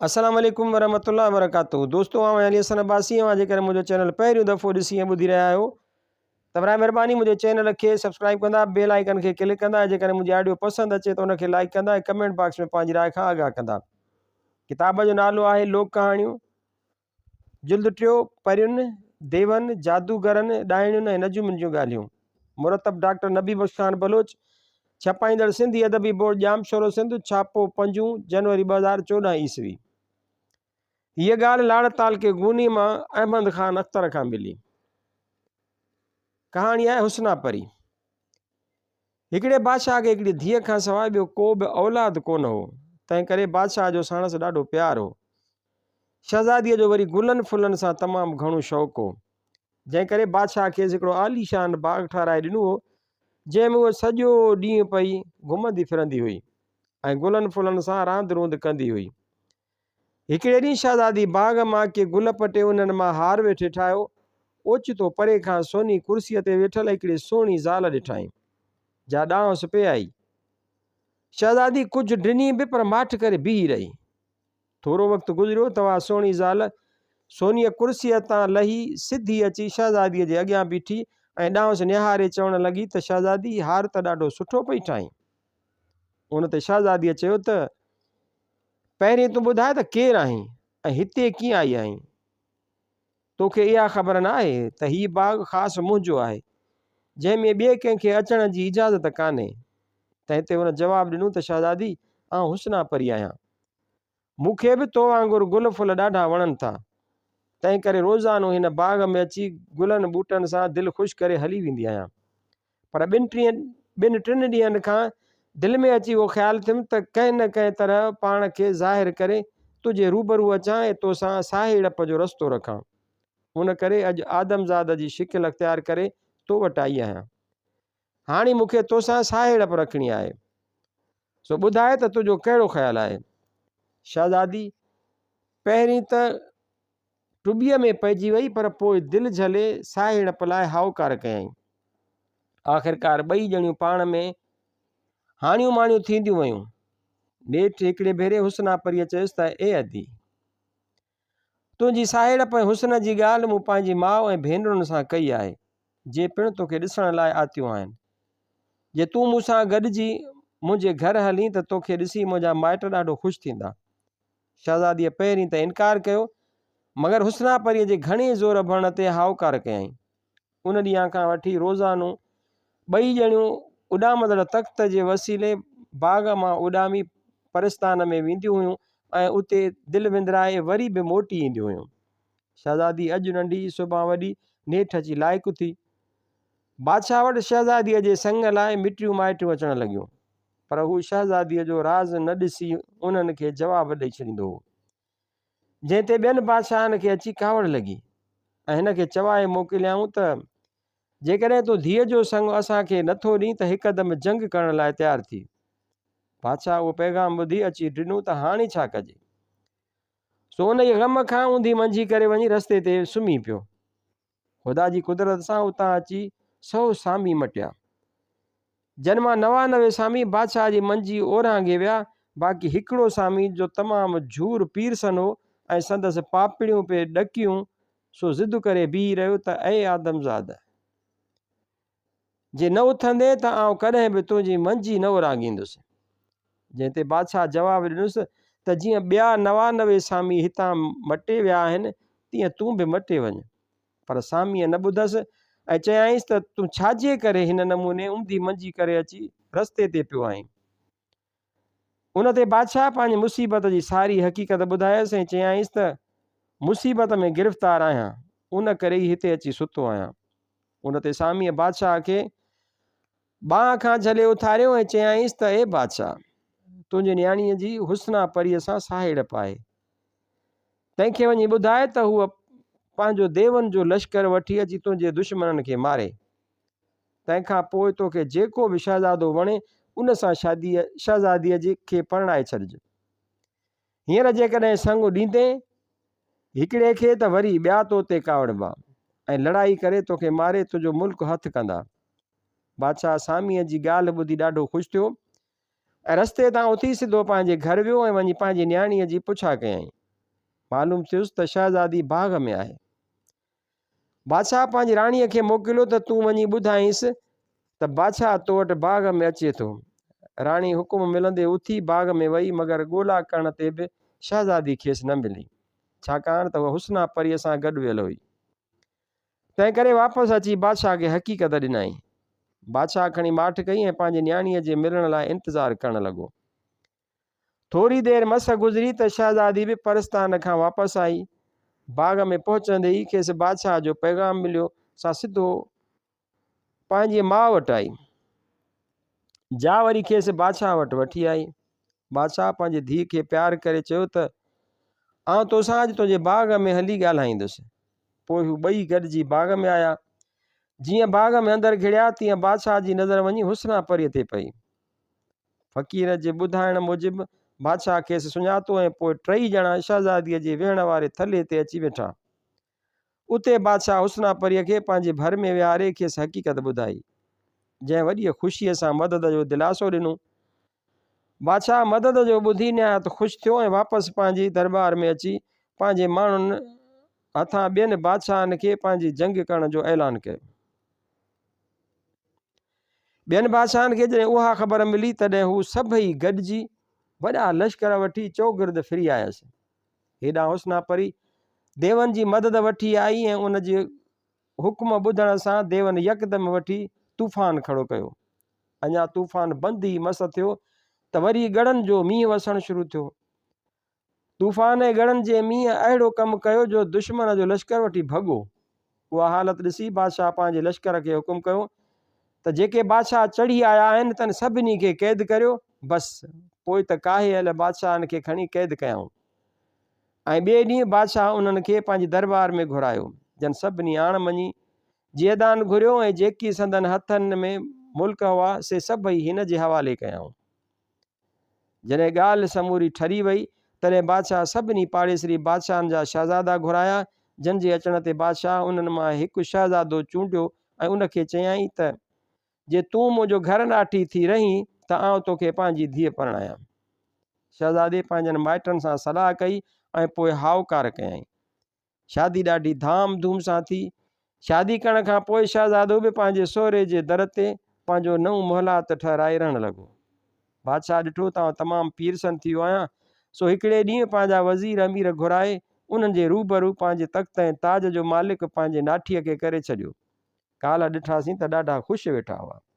السلام عليڪم ورحمة الله وبرڪاته دوستو آء علي حسن عباسي اوهان جي ڪري منهنجو چينل پهريون دفعو ڏسي ۽ ٻڌي رهيا آهيو ته برائي مهرباني منهنجي چينل کي سبسڪرائب ڪندا بيل آئيڪن کي ڪلڪ ڪندا ۽ جيڪڏهن منهنجي آڊيو پسند اچي ته ان کي لائڪ ڪندا ۽ ڪمينٽ باڪس ۾ پنهنجي راء کان آگاهه ڪندا ڪتاب جو نالو آهي لوڪ ڪهاڻيون جلد ٽيون، پرين، ديون، جادوگرن، ڏائڻين ۽ نجومين جون ڳالهيون. مرتب ڊاڪٽر نبي بخش خان بلوچ، ڇپائيندڙ سنڌي ادبي بورڊ ڄامشورو سنڌ، ڇاپو پنجون، جنوري ٻه هزار چوڏهن عيسوي. هيء ڳالهه لاڙ تعلقي گوني مان احمد خان اختر کان ملي. ڪهاڻي آهي حسنا پري. هڪڙي بادشاهه کي هڪڙي ڌيء کان سواء ٻيو ڪو به اولاد ڪونه هو، تنهن ڪري بادشاهه جو ساڻس ڏاڍو پيار هو. شهزاديء جو وري گلن ڦلن سان تمام گهڻو شوق هو، جنهن ڪري بادشاهه کيس هڪڙو عاليشان باغ ٺهرائي ڏنو هو، جنهن ۾ هوء سڄو ڏينهن پئي گهمندي ڦرندي هئي ۽ گلن ڦلن سان راند روند ڪندي هئي. هڪڙي ڏينهن شهزادي باغ مان ڪي گل پٽي انهن مان هار ويٺي ٺاهيو. اوچتو پري کان سوني ڪرسيء تي ويٺل هڪڙي سهڻي زال ڏٺائين، جا ڏانهس پئي آئي. شهزادي ڪجهه ڊني به پر ماٺ ڪري بيهي رهي. ٿورو وقت گذريو ته اها سهڻي زال سونيء ڪرسيء تان لهي سڌي اچي شهزاديء جي اڳيان بيٺي ۽ ڏانهس نهاري چوڻ لڳي ته شهزادي هي هار ته ڏاڍو سٺو پئي ٺاهين. ان تي شهزاديء چيو ته. پهرين تون ٻڌاء ته ڪير آهين ۽ هتي ڪيئن آئي آهين؟ تو کي اها خبر نه آهي ته هي باغ خاص منهنجو آهي، جنهن ۾ ٻئي ڪنهن کي اچڻ جي اجازت ڪانهي. تنهن تي هن جواب ڏنو ته شهزادي، آئون حسنا پري آهيان. مون کي به تو وانگر گل ڦل ڏاڍا وڻن ٿا، تنهن ڪري روزانو هن باغ ۾ اچي گلن ٻوٽن سان دل خوش ڪري هلي ويندي آهيان. پر ٻن ٽيهن ٻن ٽن ڏينهن کان دل ۾ اچي اهو خيال ٿيم ته ڪنهن نه ڪنهن طرح پاڻ کي ظاهر ڪري تنهنجي روبرو اچان ۽ تو سان ساهيڙپ جو رستو رکان. ان ڪري اڄ آدمزاد جي شڪل اختيار ڪري تو وٽ آئي آهيان. هاڻي مون کي تو سان ساهيڙپ رکڻي آهي. سو ٻڌاء ته تنهنجو ڪهڙو خيال آهي؟ شهزادي، پهرين ته ٽٻيء ۾ پئجي وئي پر پوء دل جهلي ساهيڙ پلاء هائوڪار ڪيائين. آخرڪار ٻئي ڄڻيون پاڻ ۾ هاڻيون ماڻيون ٿينديون ويون. نيٺ هڪڙي ڀيري حسنا پريء چيس ته اي ادي! تنهنجي ساهيڙپ ۽ حسن جي ڳالهه مون پنهنجي ماء ۽ ڀينرن سان ڪئي آهي، جي پڻ توکي ڏسڻ لاء آتيون آهن. جي تون مون سان گڏجي منهنجي گهر هلين ته توکي ڏسي منهنجا مائٽ ڏاڍو خوش ٿيندا. شهزاديء پهرين ته انڪار ڪيو، مگر حسنا پريء جي گهڻي زور ڀرڻ تي هائوڪار ڪيائين. ان ڏينهن کان وٺي روزانو ٻئي ڄڻيون اڏامندڙ تخت جي وسيلي باغ مان اڏامي پرستان ۾ وينديون هيون ۽ اتي دل وندرائي وري به موٽي اينديون هيون. شهزادي اڄ ننڍي، سڀان وڏي، نيٺ اچي لائق ٿي. بادشاهه وٽ شهزاديء جي سڱ لاء مٽيون مائٽيون اچڻ لڳيون. پر هو شهزاديء جو راز نه ڏسي انهن کي جواب ڏئي ڇڏيندو هو، جنهن تي ٻين بادشاهن کي اچي ڪاوڙ لڳي ۽ هن کي چوائي موڪليائون ته جيڪڏهن تون ڌيء جو سڱ اسان کي نه ٿو ڏين ته هڪدم جنگ ڪرڻ لاء تيار ٿي. بادشاهه اهو پيغام ٻڌي اچي ڊنو ته هاڻي ڇا ڪجي؟ سو انهيء غم کان اونڌي منجهي ڪري وڃي رستي تي سمهي پيو. خدا جي قدرت سان اتان اچي سو سامي مٽيا، جن مان نوانوي سامي بادشاهه جي منجي اورانگهي ويا، باقي هڪڙو سامي جو تمام جهور پيرسن هو ۽ سندس پاپڙيون پئي ڏڪيون، سو ضد ڪري بيهي رهيو ته اي آدمزاد! جي نه اٿندين ته آئون ڪڏهن به تنهنجي منجي نه اورانگهيندس. جنهن تي بادشاهه جواب ڏنس ته جيئن ٻيا نوانوي سامي هتان مٽي ويا آهن تيئن تون به مٽي وڃ. پر ساميء نه ٻڌس ۽ چيائينس ته تون ڇاجي ڪري هن نموني امدي منجي ڪري اچي رستي تي پيو آهين. ان تي بادشاهه پنهنجي مصيبت جي ساري حقيقت ٻڌايس ۽ چيائينس ته مصيبت ۾ گرفتار آهيان، ان ڪري ئي هتي اچي ستو آهيان. ان تي ساميء بادشاهه کي ٻانهن کان جهلي اٿاريو ۽ چيائينس ته اي بادشاهه! تنهنجي نياڻيء جي حسنا پريء سان ساهيڙپ آهي. تنهن کي وڃي ٻڌاء ته هوء پنهنجو ديون جو لشڪر وٺي اچي تنهنجي دشمنن کي ماري. تنهن کان پوء توکي جيڪو به شهزادو وڻي، ان سان شاديء شهزاديء جي کي پرڻائي ڇڏج. هينئر جيڪڏهن سڱ ڏيندين هڪڙي کي ته وري ٻيا تو تي ڪاوڙبا ۽ لڙائي ڪري توکي ماري تنهنجو ملڪ هٿ ڪندا. بادشاهه ساميء جي ڳالهه ٻڌي ڏاڍو خوش ٿيو ۽ رستي تان اٿي سڌو پنهنجي گهر ويو ۽ وڃي پنهنجي نياڻيء جي پڇا ڪيائين. معلوم ٿيس ته شهزادي باغ ۾ آهي. بادشاهه پنهنجي راڻيء کي موڪليو ته تون وڃي ٻڌائينس ته بادشاهه تو وٽ باغ ۾ اچي ٿو. راڻي حڪم ملندي اٿي باغ ۾ وئي مگر ڳولا ڪرڻ تي به شهزادي کيس نه ملي ڇاڪاڻ ته هوء حسنا پريء سان گڏ ويل هئي. تنهن ڪري واپس اچي بادشاهه کي حقيقت ڏنائين. بادشاهه کڻي ماٺ ڪئي ۽ پنهنجي نياڻيء جي ملڻ لاء انتظار ڪرڻ لڳو. ٿوري دير مس گذري ته شهزادي به پرستان کان واپس آئي. باغ ۾ پهچندي ئي کيس بادشاهه جو پيغام مليو. سا سڌو پنهنجي ماء وٽ آئي. جا وري کيس بادشاهه وٽ وٺي آئي. بادشاهه پنهنجي ڌيء کي پيار ڪري چيو ته آئون توسان اڄ تنهنجي باغ ۾ هلي ڳالهائيندس. پوء هو ٻئي گڏجي باغ ۾ آيا. جيئن باغ ۾ اندر گهڙيا تيئن بادشاهه جي نظر وڃي حسنا پريء تي پئي. فقير جي ٻڌائڻ موجب بادشاهه کيس سڃاتو ۽ پوء ٽئي ڄڻا شهزاديء جي ويهڻ واري ٿلهي تي اچي ويٺا. اتي بادشاهه حسنا پريء کي پنهنجي ڀر ۾ ويهاري کيس حقيقت ٻڌائي، جنهن وڏيء خوشيء سان مدد جو دلاسو ڏنو. بادشاهه مدد جو ٻڌي نهايت خوش ٿيو ۽ واپس پنهنجي درٻار ۾ اچي پنهنجي ماڻهن هٿان ٻين بادشاهن کي پنهنجي جنگ ڪرڻ جو اعلان ڪيو. ٻين بادشاهن کي جڏهن اها خبر ملي تڏهن هو سڀئي گڏجي وڏا لشڪر وٺي چؤگرد ڦري آيس. هيڏانهن حسنا پري ديون جي مدد وٺي آئي ۽ ان جي حڪم ٻڌڻ سان ديون يڪدم وٺي طوفان کڙو ڪيو. اڃا طوفان بند ئي مس ٿيو ته وري ڳڙن جو مينهن وسڻ شروع ٿيو. طوفان ۽ ڳڙن جي مينهن اهڙو ڪم ڪيو جو دشمن جو لشڪر وٺي ڀڳو. اها حالت ڏسي بادشاهه پنهنجي لشڪر کي حڪم ڪيو ته جيڪي بادشاهه چڙهي آيا آهن تن سڀني کي قيد ڪريو، بس پوء ته ڪاهي اهل بادشاهن کي کڻي قيد ڪيائون ۽ ٻئي ڏينهن بادشاهه انهن کي پنهنجي درٻار ۾ گهرايو، جن سڀني آڻ مڃي جيئدان گهريو ۽ جيڪي سندن هٿن ۾ ملڪ هئا سي سڀئي هن جي حوالي ڪيائون. جڏهن ڳالهه سموري ٺري وئي، تڏهن بادشاهه سڀني پاڙيسري بادشاهن جا شهزادا گهرايا، جن جي اچڻ تي بادشاهه انهن مان هڪ شهزادو چونڊيو ۽ ان کي چيائين ته، جي تون منهنجو گهر ناٺي ٿي رهين ته آئون تو کي پنهنجي ڌيء پرڻايان. شهزادي پنهنجن مائٽن سان صلاح ڪئي ۽ پوء هائوڪار ڪيائين. شادي ڏاڍي ڌام ڌوم سان ٿي. شادي ڪرڻ کان پوء شهزادو به پنهنجي سهري جي در تي پنهنجو نئون محلات ٺهرائي رهڻ لڳو. بادشاهه ڏٺو ته آئون تمام پيرسن ٿي ويو آهيان، سو هڪڙي ڏينهن پنهنجا وزير امير گهرائي انهن جي روبرو پنهنجي تخت ۽ تاج جو مالڪ پنهنجي ناٺيء کي ڪري ڇڏيو. ڪالهه ڏٺاسين ته ڏاڍا خوش ويٺا هئا.